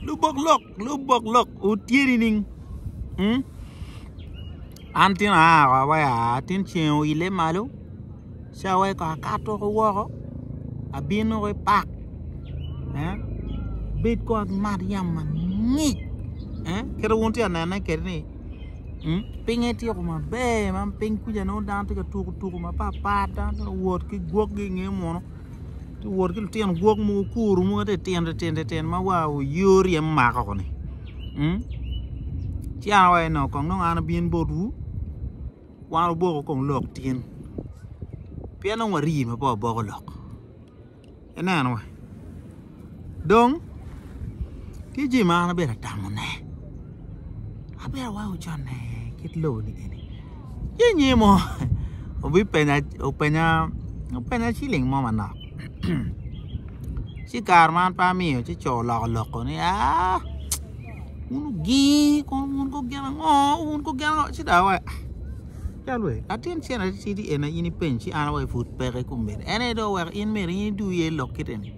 Lubok lok lubok lok otyeni nining mm an tin aa oko awaci aa tin ceng oile malo ci awaci kong akato ki woko abino ki pak abed kong amat yamo mangic kit ma wun itye ka nene kwede ni pinye tyeko maber ma piny kuca dano tye ka tuko tuko mapat pat dano tye ka wot ki gwogi i nge munu. tye wot ki lutino gwok mogo kuru mogo ma titino titino ma war oyoo ryem mako koni ci an awaco ni kong nongo an abin botwu wan oboko kong lok tin pien nongo waryeme pe waboko lok ineno wa. Dong, tye jami ma an abyero tamone, abyero aweko conne kit lobo-ni eni. Ci anyir mo obipenya, openya, openya ciling mo manok ci i kare ma an pe amiyo ci co oloko lok-ko ni aa wun ogii kono wun ko gin ango, wun ko gin ango ci dong awaco aa cal wee latin cene atitidi eni aye in ipeny ci an aye pud peke kombeddi en aye dong oweko in myero in idu iye i lok kit eni.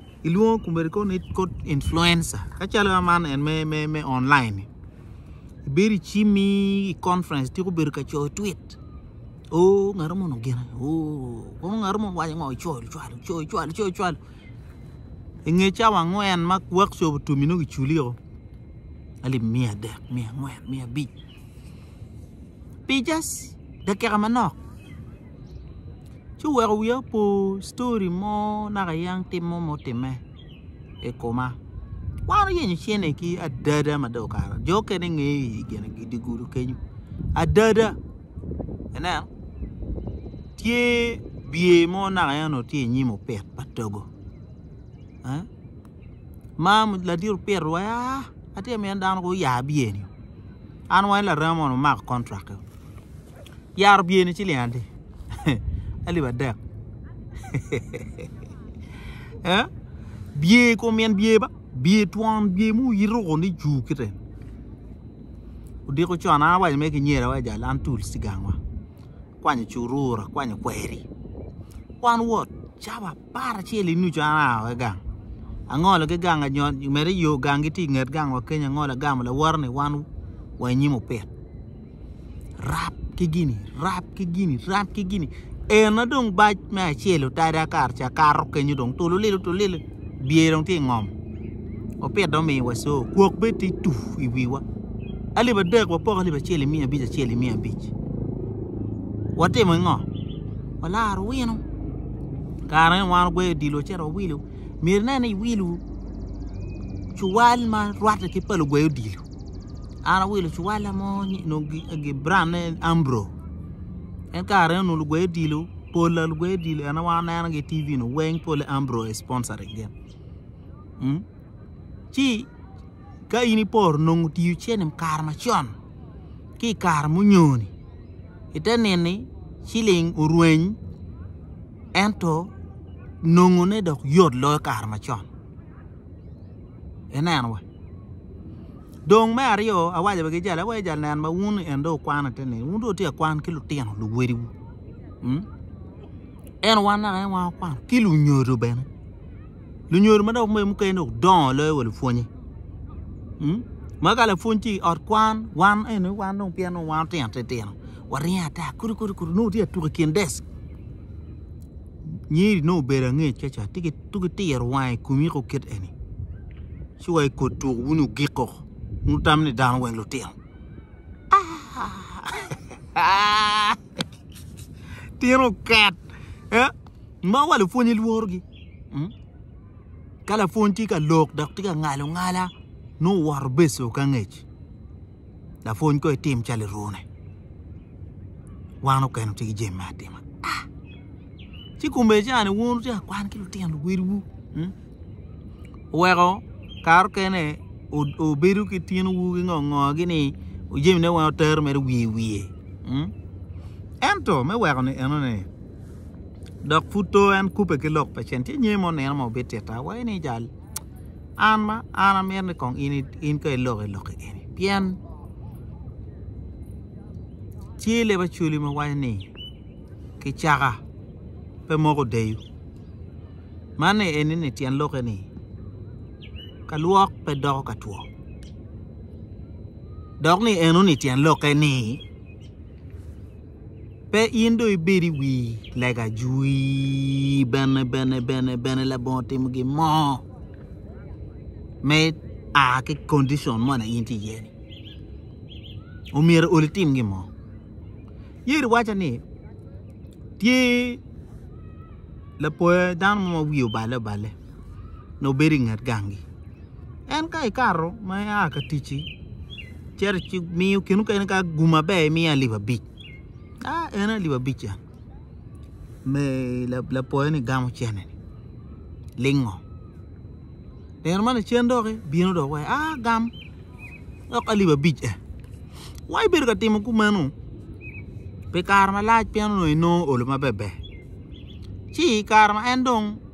ilwongo komedi kong ni kod influencer kacalo man en me me me online ni ibedo icimi i conference ityeko bedo ka coyo twit o ngato moni ogene o kono ngato moni owaco ngo icoyo lucwalo icoyo lucwalo icoyo lucwalo inge cawa angwen ma workshop otum-mi nongo iculia o alip miya adek miya angwen miya abic pi just dakika manok ci oweko wiya opor story mo naka yam tim mo ma otime i koma wan oyenyo cene ki adada ma dong okato jo mukene ngeyo i gine i dye gudo kenyo adada ineno tye bye mo naka en onongo tye i nyim opit pa togo ma ladit opito wa atye ka mini dano kong oya bye-ni an wa ki larema moni wumako contract-ti. yara obye ni ciling adi alip adek bye kom yen bye ba bye twon bye ma iruko ni jur kite odiko con an awaco mere ki nyer awaco jal an tul cigang wa akwanyo curura akwanyo kweri wan wot cabab par acel i nucu an aa wai gang angolo ki gang mere yo gang gi tye i nget gang wa kenyo angolo agamo lawote ni wan wa i nyim opit rap ki gini rap ki gini rap ki gini eno dong bac me acel otada kare ca akato kenyo dong tululilo tululilo bye dong tye i ngom opit dong omiyo wa co kwok bene tye tuu i wiwa alip adek wapoko alip acel i miya abic acel i miya abic watimo i ngo walaro wino. kare ne wan ogweyo odilo ci ento owilo myero ine ni iwilo cuwal ma rwatte ki pa lugwe odilo an awilo cuwala mo onongo brand ne ambro en kare ne onongo lugwe odilo pola lugwe odilo ene wa wanenogi i TV-nu weng polle ambro sponsoring gin ci ka in iporo nongo otiyo cene i kare macon ki i kare munyoni ite nini ciling orweny ento nongone dok yot loyo kare macon ineno wa dong me aryo awaco wa ki jali awaco jali nen ma wun en dong wukwano ite nini wun dong wutye ka kwan ki lutino luwotwu ento wan naka en wan wakwano ki lunyodo bene. lunyodo ma dok mukene dong odongo loyo wa lupwonnye ma ka lapwony tye i ot kwan wan eni wan dong pien dong wan otino titino waringo ata kulu kulu kulu nongo watye ka tuko i kin desk nyiri nongo obedo angec ka ca tye ka tiro wange i komi kong kit eni ci wa ikot tuk wun ogiko wun wutamo ni dano weng lutino aa tino oket. Ma wa lupwony ilworogi. Hmm? Ka lapwony tye ka lok dok tye ka ngalo ngala, nongo woto beco ka ngec. Lapwony ko itim calo irune. Wan okeno tye ki jami me atima. Ah! Ci kumbe cani wun wutye ka kwan ki lutino luwediwu. Hmm? Oweko karo kene obedo ki tinowu ki ngongogi ni jami ne weng otero mere wiye wiye. Hmm? Ento me weko ni enone dok pud to en kubbe ki lok pa cen tye nyer mo nino ma obit ita wa eni jal an ma an amito ni kong in ka iloko iloki eni pien tye leb acholi ma waco ni kicaka pe moko deyo man ni eni ni tyen lokke ni ka lwok pe doko ka two dok ni eno ni tyen lokke ni Pe in dong ibed i wi lega jwi, bene, bene, bene, bene labongo timo gin mo me a ki kondicon mo na in tye iye-ni. Omyero ol itim gin mo. Yeri waco ni tye lapoya dano mo ma wiye obale obale nongo bedo i nget gangi. En ka ikato ma ia ka ticci cito ci miyo kine mukene ka gum maber imiyo alip abic a en alip abic ca me lapoyo ni gamo cene lingo nino ma lacen dok bino dok waci a gam dok alip abic e wa ibedo ka timo kumeno pi kare malac pien onongo inongo olo maber ber ci i kare ma en dong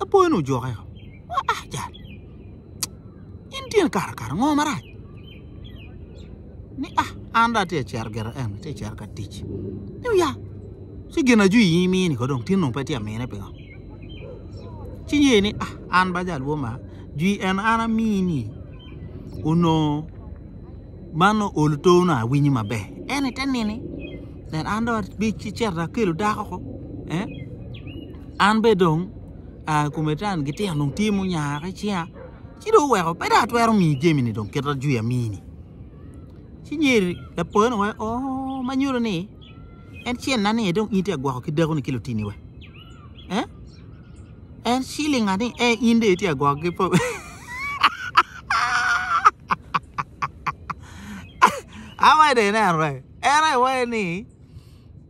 Lapoyo-ni ojokke o, Aa, jal, in tye ni kato kare ango marac? Ni, A, an dong atye ka cito gire eno, atye ka cito ka tic. Ni, Oya, ci gin ajuc in imini ko dong, tin dong pe itye ka mine pingo? Ci nyeyo ni, A, an ba jal woma, jwi eno an amini, onongo man nongo ol oto nongo awinyo maber. En ni te nini, nen an dong abiceto akelo dako ko. an bene dong aa i kome taani gitino dong tye munyara i cinga ci dong oweko pe dong atwero miyi jami-ni dong kit ma dong amini ci myero lapoyoni weko oo ma nyuto ni en cen na ni aye dong in tye ka gwoko ki dakoni ki lutini wa eh en cilinga ni eh in dong itye ka gwoko ki po awaco dong inen wai en aye waco ni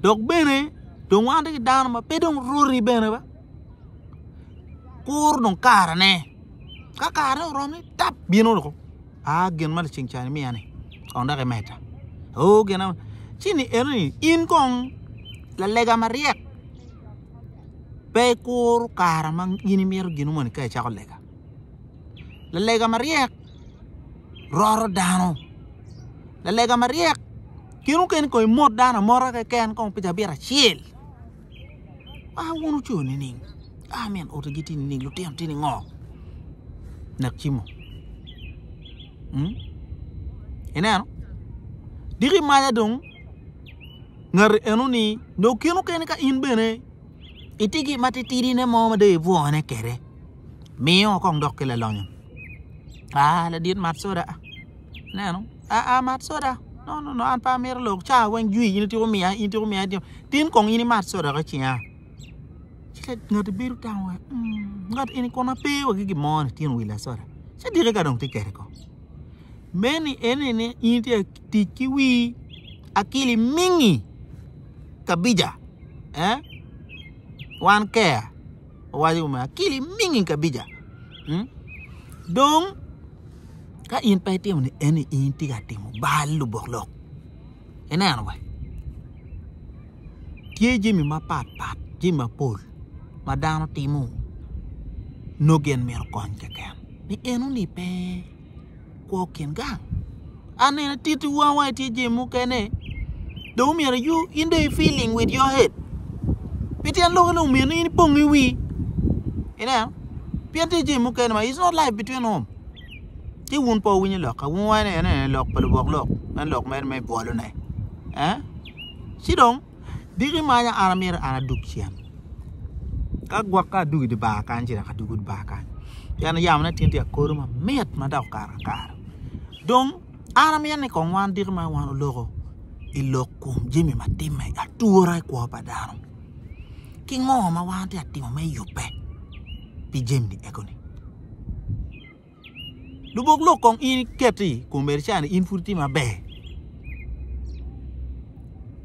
dok bene dong wan ki dano ma pe dong rwoti bene ba kuru dong karane ka karane oromo ni tap bino dong aa gin ma laceng ca imiya ni kong dok imeda oo gin ango ci ni eno ni in kong lalega maryek pe ikuru kare ma in imito gin moni ka icako lega lalega maryek roto dano lalega maryek gin mukene kong imot dano amota keken kong pi cabita acel a wun wuco nining a min otigi tye nining lutino tye ningo nak cimo ineno diki maca dong ngati enoni dong gin mukene ka in bene. Itigi matitidine mo ma dong ibwone kwede, miyo kong dok ki lalonyo. Aa, ladit mat soda. Ineno? Aa, mat soda. No, no, no, an pe amito lok. Caa weng jwi, in ityeko miya, in ityeko miya. Tin kong in imat soda ka cinga. Ci ngati bedo tamo wa, hmm, ngat eni kono ape wa ki gin mo ni tyen willa soda. Ci dikke ka dong tye kede kong. Meni ene ni in itye Tic ki wii akili mingi kabija eh wan keya owaco kome akili mingi kabija mm dong ka in pe itimo ni eni in tye ka timo bal lubok lok ineno wa tye jami mapat pat jami mapol ma dano timo nongo gin mito kony keken ni eno ni pe kwo kin gang. An nene titi wang wang itye jami mukene dong omyero you in dong i feeling with your head. Pi tyen lok ni omyero ni in ipong i wii. Ineno? Pien tye jami mukene ma it's not life between home. Ci wun po winyo lok ka wun wang ene lok pa lubok lok en lok mere me bwolone. Eh? Ci dong Diki imanya an amyero an adug cen ka gwokke adug idye bar kany ci dok adwogo bar kany pien yamone atinti akodo mamit ma dok okato akara dong an amyero ni kong wan diki ma wan oloko i lok kom jami ma timme atura i kwo pa dano ki ngo ma wan watye ka timo me yubbe pi jami ego-ni. lubok lok kong in iketi i kom Erican in pud itye maber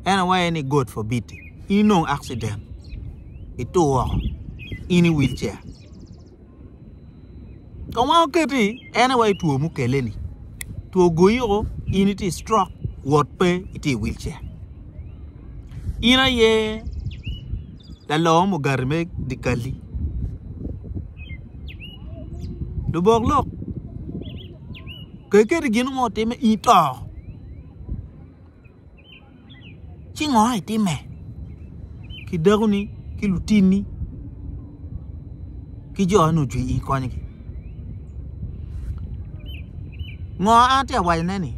en awaci aye ni God forbid in inong accident itur woko in i wheel chair kong wango keti en aye waci two mukelle ni two ogoyi o in itye i stroke wot pe itye i wheel chair in aye Lalor mugati me dikali lubok lok pe keti gin mo timme i to ci ngo itimme ki dakoni ki lutini ki jo ni ocwe i konygi ngo atye awacone ni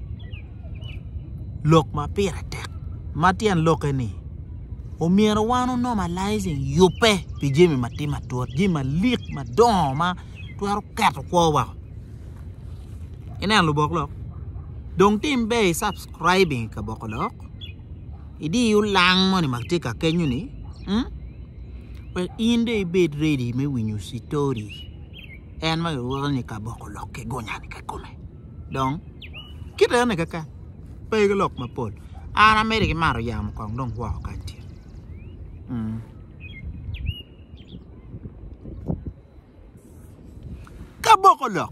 lok ma pire tek ma tyen lokke ni omyero wan o normalizing yubbe pi jami ma tye matut jami malik madongo ma twero keto kwo wa i neno lubok lok dong tim ber i subscribing i kaboko lok i diyo lang moni ma tye ka kenyo ni wek in dong i bed ready me winyo citori en ma kilwongo ni kaboko lok ki gunya ni kikome. dong kit eni keken pe ki lok mapol an amito ki mato yamo kong dong woko kany tye ki aboko lok